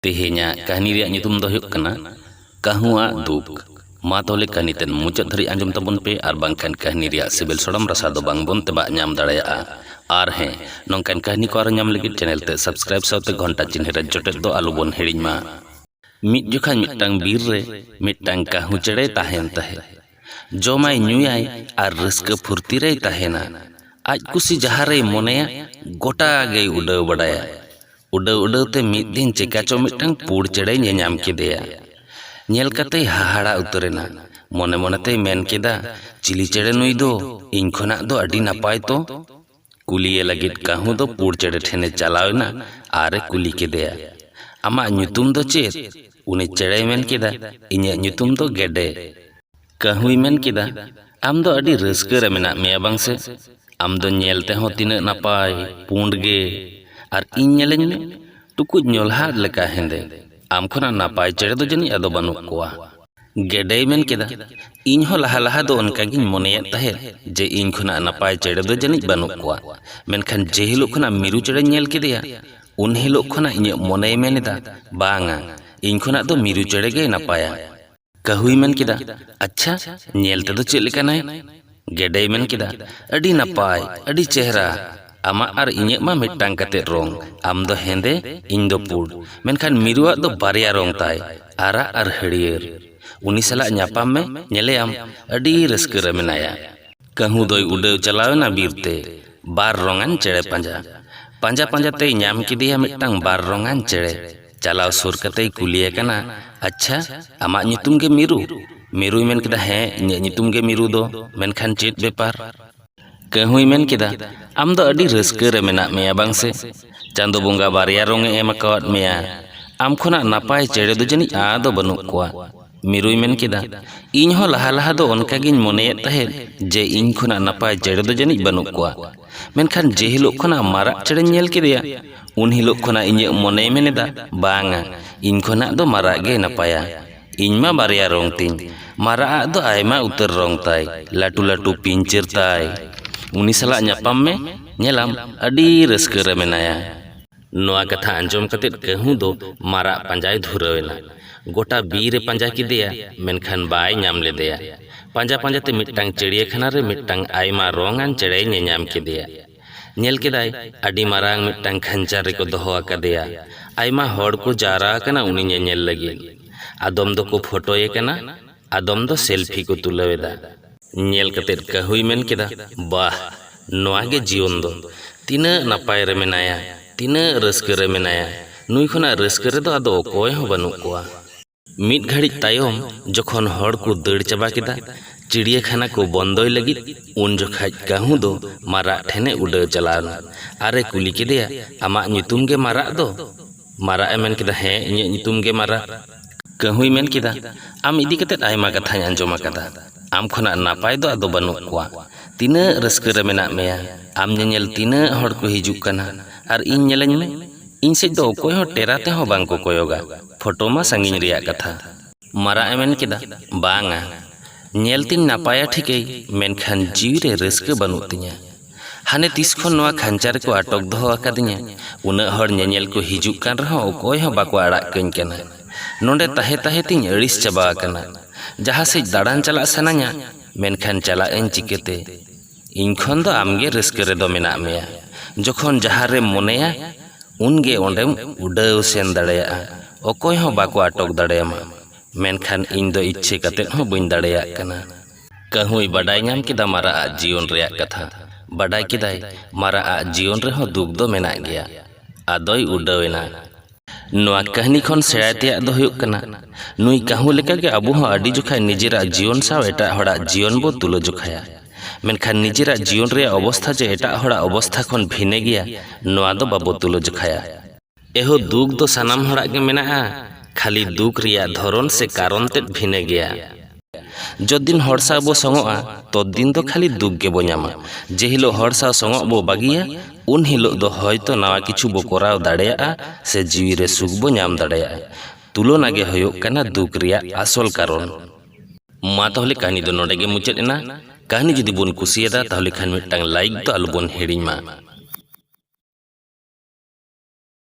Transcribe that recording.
ᱛᱮᱦᱮᱧᱟᱜ ᱠᱟᱹᱦᱱᱤ ᱨᱮᱭᱟᱜ ᱧᱩᱛᱩᱢ ᱫᱚ ᱦᱩᱭᱩᱜ ᱠᱟᱱᱟ ᱠᱟᱹᱦᱩ ᱟᱜ ᱫᱩᱠ ᱢᱟ ᱛᱟᱦᱚᱞᱮ ᱠᱟᱹᱦᱱᱤ ᱛᱮᱫ ᱢᱩᱪᱟᱹᱫ ᱫᱷᱟᱹᱨᱤᱡ ᱟᱸᱡᱚᱢ ᱛᱟᱵᱚᱱ ᱯᱮ ᱟᱨ ᱵᱟᱝᱠᱷᱟᱱ ᱠᱟᱹᱦᱱᱤ ᱨᱮᱭᱟᱜ ᱥᱤᱵᱤᱞ ᱥᱚᱲᱚᱢ ᱨᱟᱥᱟ ᱫᱚ ᱵᱟᱝ ᱵᱚᱱ ᱛᱮᱵᱟᱜ ᱧᱟᱢ ᱫᱟᱲᱮᱭᱟᱜᱼᱟ ᱟᱨ ᱦᱮᱸ ᱱᱚᱝᱠᱟᱱ ᱠᱟᱹᱦᱱᱤ ᱠᱚ ᱟᱨᱚ ᱧᱟᱢ ᱞᱟᱹᱜᱤᱫ ᱪᱮᱱᱮᱞ ᱛᱮ ᱥᱟᱵᱥᱠᱨᱟᱭᱤᱵ ᱥᱟᱶᱛᱮ ᱜᱷᱚᱱᱴᱟ ᱪᱤᱱᱦᱟᱹ ᱨᱮ ᱡᱚᱴᱮᱫ ᱫᱚ ᱟᱞᱚ ᱵᱚᱱ ᱦᱤᱲᱤᱧ ᱢᱟ ᱢᱤᱫ ᱡᱚᱠᱷᱟᱡ ᱢᱤᱫᱴᱟᱝ ᱵᱤᱨ ᱨᱮ ᱢᱤᱫᱴᱟᱝ ᱠᱟᱹᱦᱩ ᱪᱮᱬᱮᱭ ᱛᱟᱦᱮᱱ ᱛᱟᱦᱮᱸᱫ ᱡᱚᱢᱟᱭ ᱧᱩᱭᱟᱭ ᱟᱨ ᱨᱟᱹᱥᱠᱟᱹ ᱯᱷᱩᱨᱛᱤ ᱨᱮᱭ ᱛᱟᱦᱮᱸᱱᱟ᱾ ᱟᱡ ᱠᱩᱥᱤ ᱡᱟᱦᱟᱸ ᱨᱮᱭ ᱢᱚᱱᱮᱭᱟ ᱜᱚᱴᱟ ᱜᱮᱭ ᱩᱰᱟᱹᱣ ᱵᱟᱰᱟᱭᱟ᱾ ᱩᱰᱟᱹᱣ ᱩᱰᱟᱹᱣ ᱛᱮ ᱢᱤᱫ ᱫᱤᱱ ᱪᱮᱠᱟ ᱪᱚ ᱢᱤᱫᱴᱟᱹᱝ ᱯᱩᱸᱲ ᱪᱮᱬᱮᱭ ᱧᱮᱧᱟᱢ ᱠᱮᱫᱮᱭᱟ᱾ ᱧᱮᱞ ᱠᱟᱛᱮᱭ ᱦᱟᱦᱟᱲᱟ ᱩᱛᱟᱹᱨ ᱮᱱᱟ᱾ ᱢᱚᱱᱮ ᱢᱚᱱᱮ ᱛᱮᱭ ᱢᱮᱱ ᱠᱮᱫᱼᱟ, ᱪᱤᱞᱤ ᱪᱮᱬᱮ ᱱᱩᱭ ᱫᱚ ᱤᱧ ᱠᱷᱚᱱᱟᱜ ᱫᱚ ᱟᱹᱰᱤ ᱱᱟᱯᱟᱭ ᱛᱚ᱾ ᱠᱩᱞᱤᱭᱮ ᱞᱟᱹᱜᱤᱫ ᱠᱟᱹᱦᱩ ᱫᱚ ᱯᱩᱲ ᱪᱮᱬᱮ ᱴᱷᱮᱱᱮ ᱪᱟᱞᱟᱣ ᱮᱱᱟ ᱟᱨᱮ ᱠᱩᱞᱤ ᱠᱮᱫᱮᱭᱟ ᱟᱢᱟᱜ ᱧᱩᱛᱩᱢ ᱫᱚ ᱪᱮᱫ ᱩᱱᱤ ᱪᱮᱬᱮᱭ ᱢᱮᱱ ᱠᱮᱫᱟ ᱤᱧᱟᱹᱜ ᱧᱩᱛᱩᱢ ᱫᱚ ᱜᱮᱰᱮ ᱠᱟᱹᱦᱩᱭ ᱢᱮᱱ ᱠᱮᱫᱟ ᱟᱢ ᱫᱚ ᱟᱹᱰᱤ ᱨᱟᱹᱥᱠᱟᱹ ᱨᱮ ᱢᱮᱱᱟᱜ ᱢᱮᱭᱟ ᱵᱟᱝ ᱥᱮ ᱟᱢ ᱫᱚ ᱧᱮᱞ ᱛᱮᱦᱚᱸ ᱛᱤᱱᱟᱹᱜ ᱱᱟᱯᱟᱭ ᱯᱩᱸᱰ ᱜᱮ ᱟᱨ ᱤᱧ ᱧᱮᱞᱮᱧ ᱢᱮ ᱴᱩᱠᱩᱡ ᱧᱚᱞᱦᱟ ᱞᱮᱠᱟ ᱦᱮᱸᱫᱮ ᱟᱢ ᱠᱷᱚᱱᱟᱜ ᱱᱟᱯᱟᱭ ᱪᱮᱬᱮ ᱫᱚ ᱡᱟᱹᱱᱤᱡ ᱟᱫᱚ ᱵᱟᱹᱱᱩᱜ ᱠᱚᱣᱟ ᱜᱮᱰᱮᱭ ᱢᱮᱱ ᱠᱮᱫᱟ, ᱤᱧ ᱦᱚᱸ ᱞᱟᱦᱟ ᱞᱟᱦᱟ ᱫᱚ ᱚᱱᱠᱟ ᱜᱤᱧ ᱢᱚᱱᱮᱭᱮᱫ ᱛᱟᱦᱮᱸᱫ ᱡᱮ ᱤᱧ ᱠᱷᱚᱱᱟᱜ ᱱᱟᱯᱟᱭ ᱪᱮᱬᱮ ᱫᱚ ᱡᱟᱹᱱᱤᱡ ᱵᱟᱹᱱᱩᱜ ᱠᱚᱣᱟ᱾ ᱢᱮᱱᱠᱷᱟᱱ ᱡᱮ ᱦᱤᱞᱚᱜ ᱠᱷᱚᱱᱟᱜ ᱢᱤᱨᱩ ᱪᱮᱬᱮᱧ ᱧᱮᱞ ᱠᱮᱫᱮᱭᱟ, ᱩᱱ ᱦᱤᱞᱚᱜ ᱠᱷᱚᱱᱟᱜ ᱤᱧᱟᱜ ᱢᱚᱱᱮᱭ ᱢᱮᱱ ᱮᱫᱟ, ᱵᱟᱝᱼᱟ, ᱤᱧ ᱠᱷᱚᱱᱟᱜ ᱫᱚ ᱢᱤᱨᱩ ᱪᱮᱬᱮ ᱜᱮᱭ ᱱᱟᱯᱟᱭᱟ᱾ ᱠᱟᱹᱦᱩᱭ ᱢᱮᱱ ᱠᱮᱫᱟ, ᱟᱪᱪᱷᱟ, ᱧᱮᱞ ᱛᱮᱫᱚ ᱪᱮᱫ ᱞᱮᱠᱟᱱᱟᱭ? ᱜᱮᱰᱮᱭ ᱢᱮᱱ ᱠᱮᱫᱟ, ᱟᱹᱰᱤ ᱱᱟᱯᱟᱭ, ᱟᱹᱰᱤ ᱪᱮᱦᱨᱟ᱾ ᱟᱢᱟᱜ ᱟᱨ ᱤᱧᱟᱹᱜ ᱢᱟ ᱢᱤᱫᱴᱟᱝ ᱠᱟᱛᱮ ᱨᱚᱝ᱾ ᱟᱢ ᱫᱚ ᱦᱮᱸᱫᱮ, ᱤᱧ ᱫᱚ ᱯᱩᱸᱰ᱾ ᱢᱮᱱᱠᱷᱟᱱ ᱢᱤᱨᱩ ᱟᱜ ᱫᱚ ᱵᱟᱨᱭᱟ ᱨᱚᱝ ᱛᱟᱭ, ᱟᱨᱟᱜ ᱟᱨ ᱦᱟᱹᱨᱭᱟᱹᱲ᱾ ᱩᱱᱤ ᱥᱟᱞᱟᱜ ᱧᱟᱯᱟᱢ ᱢᱮ, ᱧᱮᱞᱮᱭᱟᱢ, ᱟᱹᱰᱤ ᱨᱟᱹᱥᱠᱟᱹ ᱨᱮ ᱢᱮᱱᱟᱭᱟ᱾ ᱠᱟᱹᱦᱩ ᱫᱚᱭ ᱩᱰᱟᱹᱣ ᱪᱟᱞᱟᱣ ᱮᱱᱟ ᱵᱤᱨ ᱛᱮ ᱵᱟᱨ ᱨᱚᱝᱟᱱ ᱪᱮᱬᱮ ᱯᱟᱸᱡᱟ᱾ ᱯᱟᱸᱡᱟ ᱯᱟᱸᱡᱟ ᱛᱮᱭ ᱧᱟᱢ ᱠᱮᱫᱮᱭᱟ ᱢᱤᱫᱴᱟᱝ ᱵᱟᱨ ᱨᱚᱝᱟᱱ ᱪᱮᱬᱮ᱾ ᱪᱟᱞᱟᱣ ᱥᱩᱨ ᱠᱟᱛᱮᱭ ᱠᱩᱞᱤᱭᱮ ᱠᱟᱱᱟ ᱟᱪᱪᱷᱟ ᱟᱢᱟᱜ ᱧᱩᱛᱩᱢ ᱜᱮ ᱢᱤᱨᱩ ᱢᱤᱨᱩᱭ ᱢᱮᱱ ᱠᱮᱫᱟ ᱦᱮᱸ ᱤᱧᱟᱹᱜ ᱧᱩᱛᱩᱢ ᱜᱮ ᱢᱤᱨᱩ ᱫᱚ ᱢᱮᱱᱠᱷᱟᱱ ᱪᱮᱫ ᱵᱮᱯᱟᱨ ᱠᱟᱹᱦᱩᱭ ᱢᱮᱱ ᱠᱮᱫᱟ ᱟᱢ ᱫᱚ ᱟᱹᱰᱤ ᱨᱟᱹᱥᱠᱟᱹ ᱨᱮ ᱢᱮᱱᱟᱜ ᱢᱮᱭᱟ ᱵᱟᱝ ᱥᱮ ᱪᱟᱸᱫᱚ ᱵᱚᱸᱜᱟ ᱵᱟᱨᱭᱟ ᱨᱚᱝ ᱮ ᱮᱢ ᱟᱠᱟᱣᱟᱫ ᱢᱮᱭᱟ ᱟᱢ ᱠᱷᱚᱱᱟᱜ ᱱᱟᱯᱟᱭ ᱪᱮᱬᱮ ᱫᱚ ᱡᱟᱹᱱᱤᱡ ᱟᱫᱚ ᱵᱟᱹᱱᱩᱜ ᱠᱚᱣᱟ ᱢᱤᱨᱩᱭ ᱢᱮᱱ ᱠᱮᱫᱟ, ᱤᱧ ᱦᱚᱸ ᱞᱟᱦᱟ ᱞᱟᱦᱟ ᱫᱚ ᱚᱱᱠᱟ ᱜᱮᱧ ᱢᱚᱱᱮᱭᱮᱫ ᱛᱟᱦᱮᱸᱫ ᱡᱮ ᱤᱧ ᱠᱷᱚᱱᱟᱜ ᱱᱟᱯᱟᱭ ᱪᱮᱬᱮ ᱫᱚ ᱡᱟᱹᱱᱤᱡ ᱵᱟᱹᱱᱩᱜ ᱠᱚᱣᱟ᱾ ᱢᱮᱱᱠᱷᱟᱱ ᱡᱮ ᱦᱤᱞᱚᱜ ᱠᱷᱚᱱᱟᱜ ᱢᱟᱨᱟᱜ ᱪᱮᱬᱮᱧ ᱧᱮᱞ ᱠᱮᱫᱮᱭᱟ, ᱩᱱ ᱦᱤᱞᱚᱜ ᱠᱷᱚᱱᱟᱜ ᱤᱧᱟᱹᱜ ᱢᱚᱱᱮᱭ ᱢᱮᱱ ᱮᱫᱟ, ᱵᱟᱝᱼᱟ, ᱤᱧ ᱠᱷᱚᱱᱟᱜ ᱫᱚ ᱢᱟᱨᱟᱜ ᱜᱮᱭ ᱱᱟᱯᱟᱭᱟ᱾ ᱤᱧ ᱢᱟ ᱵᱟᱨᱭᱟ ᱨᱚᱝ ᱛᱤᱧ᱾ ᱢᱟᱨᱟᱜ ᱟᱜ ᱫᱚ ᱟᱭᱢᱟ ᱩᱛᱟᱹᱨ ᱨᱚᱝ ᱛᱟᱭ, ᱞᱟᱹᱴᱩ ᱞᱟᱹᱴᱩ ᱯᱤᱧᱪᱟᱹᱨ ᱛᱟᱭ᱾ ᱩᱱᱤ ᱥᱟᱞᱟᱜ ᱧᱟᱯᱟᱢ ᱢᱮ, ᱧᱮᱞᱟᱢ ᱟᱹᱰᱤ ᱨᱟᱹᱥᱠᱟᱹ ᱨᱮ ᱢᱮᱱᱟᱭᱟ᱾ ᱱᱚᱣᱟ ᱠᱟᱛᱷᱟ ᱟᱸᱡᱚᱢ ᱠᱟᱛᱮ ᱠᱟᱹᱦᱩ ᱫᱚ ᱢᱟᱨᱟᱜ ᱯᱟᱸᱡᱟᱭ ᱫᱷᱩᱨᱟᱹᱣ ᱮᱱᱟ᱾ ᱜᱚᱴᱟ ᱵᱤᱨ ᱮ ᱯᱟᱸᱡᱟ ᱠᱮᱫᱮᱭᱟ ᱢᱮᱱᱠᱷᱟᱱ ᱵᱟᱭ ᱧᱟᱢ ᱞᱮᱫᱮᱭᱟ᱾ ᱯᱟᱸᱡᱟ ᱯᱟᱸᱡᱟ ᱛᱮ ᱢᱤᱫᱴᱟᱝ ᱪᱤᱲᱤᱭᱟᱹᱠᱷᱟᱱᱟ ᱨᱮ ᱢᱤᱫᱴᱟᱝ ᱟᱭᱢᱟ ᱨᱚᱝ ᱟᱱ ᱪᱮᱬᱮᱭ ᱧᱮᱧᱟᱢ ᱠᱮᱫᱮᱭᱟ᱾ ᱧᱮᱞ ᱠᱮᱫᱟᱭ ᱟᱹᱰᱤ ᱢᱟᱨᱟᱝ ᱢᱤᱫᱴᱟᱝ ᱠᱷᱟᱧᱪᱟ ᱨᱮᱠᱚ ᱫᱚᱦᱚ ᱟᱠᱟᱫᱮᱭᱟ᱾ ᱟᱭᱢᱟ ᱦᱚᱲ ᱠᱚ ᱡᱟᱣᱨᱟ ᱟᱠᱟᱱᱟ ᱩᱱᱤ ᱧᱮᱧᱮᱞ ᱞᱟᱹᱜᱤᱫ᱾ ᱟᱫᱚᱢ ᱫᱚᱠᱚ ᱯᱷᱚᱴᱚᱭᱮ ᱠᱟᱱᱟ᱾ ᱟᱫᱚᱢ ᱫᱚ ᱥᱮᱞᱯᱷᱤ ᱠᱚ ᱛᱩᱞᱟᱹᱣ ᱮᱫᱟ᱾ ᱧᱮᱞ ᱠᱟᱛᱮ ᱠᱟᱹᱦᱩᱭ ᱢᱮᱱ ᱠᱮᱫᱟ, ᱵᱟᱦ! ᱱᱚᱶᱟ ᱜᱮ ᱡᱤᱭᱚᱱ ᱫᱚ᱾ ᱛᱤᱱᱟᱹᱜ ᱱᱟᱯᱟᱭ ᱨᱮ ᱢᱮᱱᱟᱭᱟ, ᱛᱤᱱᱟᱹᱜ ᱨᱟᱹᱥᱠᱟᱹ ᱨᱮ ᱢᱮᱱᱟᱭᱟ᱾ ᱱᱩᱭ ᱠᱷᱚᱱᱟᱜ ᱨᱟᱹᱥᱠᱟᱹ ᱨᱮᱫᱚ ᱟᱫᱚ ᱚᱠᱚᱭ ᱦᱚᱸ ᱵᱟᱹᱱᱩᱜ ᱠᱚᱣᱟ᱾ ᱢᱤᱫ ᱜᱷᱟᱹᱲᱤᱡ ᱛᱟᱭᱚᱢ ᱡᱚᱠᱷᱚᱱ ᱦᱚᱲ ᱠᱚ ᱫᱟᱹᱲ ᱪᱟᱵᱟ ᱠᱮᱫᱟ ᱪᱤᱲᱤᱭᱟᱹᱠᱷᱟᱱᱟ ᱠᱚ ᱵᱚᱱᱫᱚᱭ ᱞᱟᱹᱜᱤᱫ, ᱩᱱ ᱡᱚᱠᱷᱟᱡ ᱠᱟᱹᱦᱩ ᱫᱚ ᱢᱟᱨᱟᱜ ᱴᱷᱮᱱ ᱮ ᱩᱰᱟᱹᱣ ᱪᱟᱞᱟᱣ ᱮᱱᱟ ᱟᱨ ᱮ ᱠᱩᱞᱤ ᱠᱮᱫᱮᱭᱟ, ᱟᱢᱟᱜ ᱧᱩᱛᱩᱢ ᱜᱮ ᱢᱟᱨᱟᱜ ᱫᱚ? ᱢᱟᱨᱟᱜ ᱮ ᱢᱮᱱ ᱠᱮᱫᱟ, ᱦᱮᱸ, ᱤᱧᱟᱜ ᱧᱩᱛᱩᱢ ᱜᱮ ᱢᱟᱨᱟᱜ᱾ ᱠᱟᱺᱦᱩᱭ ᱢᱮᱱ ᱠᱮᱫᱟ, ᱟᱢ ᱤᱫᱤ ᱠᱟᱛᱮ ᱟᱭᱢᱟ ᱠᱟᱛᱷᱟᱧ ᱟᱸᱡᱚᱢ ᱟᱠᱟᱫᱟ᱾ ᱟᱢ ᱠᱷᱚᱱᱟᱜ ᱱᱟᱯᱟᱭ ᱫᱚ ᱟᱫᱚ ᱵᱟᱹᱱᱩᱜ ᱠᱚᱣᱟ᱾ ᱛᱤᱱᱟᱹᱜ ᱨᱟᱹᱥᱠᱟᱹ ᱨᱮ ᱢᱮᱱᱟᱜ ᱢᱮᱭᱟ᱾ ᱟᱢ ᱧᱮᱧᱮᱞ ᱛᱤᱱᱟᱹᱜ ᱦᱚᱲ ᱠᱚ ᱦᱤᱡᱩᱜ ᱠᱟᱱᱟ᱾ ᱟᱨ ᱤᱧ ᱧᱮᱞᱤᱧ ᱢᱮ᱾ ᱤᱧ ᱥᱮᱡ ᱫᱚ ᱚᱠᱚᱭ ᱦᱚᱸ ᱴᱮᱨᱟ ᱛᱮᱦᱚᱸ ᱵᱟᱝ ᱠᱚ ᱠᱚᱭᱚᱜᱟ᱾ ᱯᱷᱚᱴᱚ ᱢᱟ ᱥᱟᱺᱜᱤᱧ ᱨᱮᱭᱟᱜ ᱠᱟᱛᱷᱟ᱾ ᱢᱟᱨᱟᱜ ᱮ ᱢᱮᱱ ᱠᱮᱫᱟ, ᱵᱟᱝᱼᱟ᱾ ᱧᱮᱞ ᱛᱤᱧ ᱱᱟᱯᱟᱭᱟ ᱴᱷᱤᱠᱟᱹᱭ ᱢᱮᱱᱠᱷᱟᱱ ᱡᱤᱣᱤ ᱨᱮ ᱨᱟᱹᱥᱠᱟᱹ ᱵᱟᱹᱱᱩᱜ ᱛᱤᱧᱟ᱾ ᱦᱟᱱᱮ ᱛᱤᱥ ᱠᱷᱚᱱ ᱱᱚᱶᱟ ᱠᱷᱟᱧᱪᱟ ᱨᱮᱠᱚ ᱟᱴᱚᱠ ᱫᱚᱦᱚ ᱟᱠᱟᱫᱤᱧᱟ᱾ ᱩᱱᱟᱹᱜ ᱦᱚᱲ ᱧᱮᱧᱮᱞ ᱠᱚ ᱦᱤᱡᱩᱜ ᱠᱟᱱ ᱨᱮᱦᱚᱸ ᱚᱠᱚᱭ ᱦᱚᱸ ᱵᱟᱠᱚ ᱟᱲᱟᱜ ᱠᱟᱹᱧ ᱠᱟᱱᱟ᱾ ᱱᱚᱸᱰᱮ ᱛᱟᱦᱮᱸ ᱛᱟᱦᱮᱸ ᱛᱤᱧ ᱟᱹᱲᱤᱥ ᱪᱟᱵᱟ ᱟᱠᱟᱱᱟ᱾ ᱡᱟᱦᱟᱸ ᱥᱮᱡ ᱫᱟᱬᱟᱱ ᱪᱟᱞᱟᱜ ᱥᱟᱱᱟᱧᱟ ᱢᱮᱱᱠᱷᱟᱱ ᱪᱟᱞᱟᱜ ᱟᱹᱧ ᱪᱤᱠᱟᱹᱛᱮ? ᱤᱧ ᱠᱷᱚᱱ ᱫᱚ ᱟᱢ ᱜᱮ ᱨᱟᱹᱥᱠᱟᱹ ᱨᱮᱫᱚ ᱢᱮᱱᱟᱜ ᱢᱮᱭᱟ ᱡᱚᱠᱷᱚᱱ ᱡᱟᱦᱟᱸ ᱨᱮᱢ ᱢᱚᱱᱮᱭᱟ ᱩᱱ ᱜᱮ ᱚᱸᱰᱮᱢ ᱩᱰᱟᱹᱣ ᱥᱮᱱ ᱫᱟᱲᱮᱭᱟᱜᱼᱟ ᱚᱠᱚᱭ ᱦᱚᱸ ᱵᱟᱠᱚ ᱟᱴᱚᱠ ᱫᱟᱲᱮᱭᱟᱢᱟ ᱢᱮᱱᱠᱷᱟᱱ ᱤᱧ ᱫᱚ ᱤᱪᱪᱷᱟᱹ ᱠᱟᱛᱮ ᱦᱚᱸ ᱵᱟᱹᱧ ᱫᱟᱲᱮᱭᱟᱜ ᱠᱟᱱᱟ᱾ ᱠᱟᱹᱦᱩᱭ ᱵᱟᱰᱟᱭ ᱧᱟᱢ ᱠᱮᱫᱟ ᱢᱟᱨᱟᱜ ᱟᱜ ᱡᱤᱭᱚᱱ ᱨᱮᱭᱟᱜ ᱠᱟᱛᱷᱟ᱾ ᱵᱟᱰᱟᱭ ᱠᱮᱫᱟᱭ ᱢᱟᱨᱟᱜ ᱟᱜ ᱡᱤᱭᱚᱱ ᱨᱮᱦᱚᱸ ᱫᱩᱠ ᱫᱚ ᱢᱮᱱᱟᱜ ᱜᱮᱭᱟ᱾ ᱟᱫᱚᱭ ᱩᱰᱟᱹᱣ ᱮᱱᱟ᱾ ᱱᱚᱣᱟ ᱠᱟᱹᱦᱱᱤ ᱠᱷᱚᱱ ᱥᱮᱬᱟᱭ ᱛᱮᱭᱟᱜ ᱫᱚ ᱦᱩᱭᱩᱜ ᱠᱟᱱᱟ ᱱᱩᱭ ᱠᱟᱹᱦᱩ ᱞᱮᱠᱟᱜᱮ ᱟᱵᱚ ᱦᱚᱸ ᱟᱹᱰᱤ ᱡᱚᱠᱷᱟᱡ ᱱᱤᱡᱮᱨᱟᱜ ᱡᱤᱭᱚᱱ ᱥᱟᱶ ᱮᱴᱟᱜ ᱦᱚᱲᱟᱜ ᱡᱤᱭᱚᱱ ᱵᱚ ᱛᱩᱞᱟᱹ ᱡᱚᱠᱷᱟᱭᱟ ᱢᱮᱱᱠᱷᱟᱱ ᱱᱤᱡᱮᱨᱟᱜ ᱡᱤᱭᱚᱱ ᱨᱮᱭᱟᱜ ᱚᱵᱚᱥᱛᱷᱟ ᱡᱮ ᱮᱴᱟᱜ ᱦᱚᱲᱟᱜ ᱚᱵᱚᱥᱛᱷᱟ ᱠᱷᱚᱱ ᱵᱷᱤᱱᱟᱹ ᱜᱮᱭᱟ ᱱᱚᱣᱟ ᱫᱚ ᱵᱟᱵᱚ ᱛᱩᱞᱟᱹ ᱡᱚᱠᱷᱟᱭᱟ ᱮᱦᱳ ᱫᱩᱠ ᱫᱚ ᱥᱟᱱᱟᱢ ᱦᱚᱲᱟᱜ ᱜᱮ ᱢᱮᱱᱟᱜᱼᱟ ᱠᱷᱟᱹᱞᱤ ᱫᱩᱠ ᱨᱮᱭᱟᱜ ᱫᱷᱚᱨᱚᱱ ᱥᱮ ᱠᱟᱨᱚᱱ ᱛᱮᱫ ᱵᱷᱤᱱᱟᱹ ᱜᱮᱭᱟ ᱡᱚᱛ ᱫᱤᱱ ᱦᱚᱲ ᱥᱟᱶ ᱵᱚ ᱥᱚᱝᱚᱜᱼᱟ ᱛᱚᱛ ᱫᱤᱱ ᱫᱚ ᱠᱷᱟᱹᱞᱤ ᱫᱩᱠ ᱜᱮᱵᱚ ᱧᱟᱢᱟ ᱡᱮ ᱦᱤᱞᱳᱜ ᱦᱚᱲ ᱥᱟᱶ ᱥᱚᱝᱚᱜ ᱵᱚ ᱵᱟᱹᱜᱤᱭᱟ ᱩᱱ ᱦᱤᱞᱳᱜ ᱫᱚ ᱦᱚᱭᱛᱚ ᱱᱟᱣᱟ ᱠᱤᱪᱷᱩ ᱵᱚ ᱠᱚᱨᱟᱣ ᱫᱟᱲᱮᱭᱟᱜᱼᱟ ᱥᱮ ᱡᱤᱣᱤ ᱨᱮ ᱥᱩᱠ ᱵᱚ ᱧᱟᱢ ᱫᱟᱲᱮᱭᱟᱜᱼᱟ ᱛᱩᱞᱚᱱᱟ ᱜᱮ ᱦᱩᱭᱩᱜ ᱠᱟᱱᱟ ᱫᱩᱠ ᱨᱮᱭᱟᱜ ᱟᱥᱚᱞ ᱠᱟᱨᱚᱱ᱾ ᱢᱟ ᱛᱟᱦᱚᱞᱮ ᱠᱟᱹᱦᱱᱤ ᱫᱚ ᱱᱚᱰᱮ ᱜᱮ ᱢᱩᱪᱟᱹᱫ ᱮᱱᱟ᱾ ᱠᱟᱹᱦᱱᱤ ᱡᱩᱫᱤ ᱵᱚᱱ ᱠᱩᱥᱤᱭᱟᱫᱟ ᱛᱟᱦᱚᱞᱮ ᱠᱷᱟᱱ ᱢᱤᱫᱴᱟᱝ ᱞᱟᱭᱤᱠ ᱫᱚ ᱟᱞᱚ ᱵᱚᱱ ᱦᱤᱲᱤᱧ ᱢᱟ᱾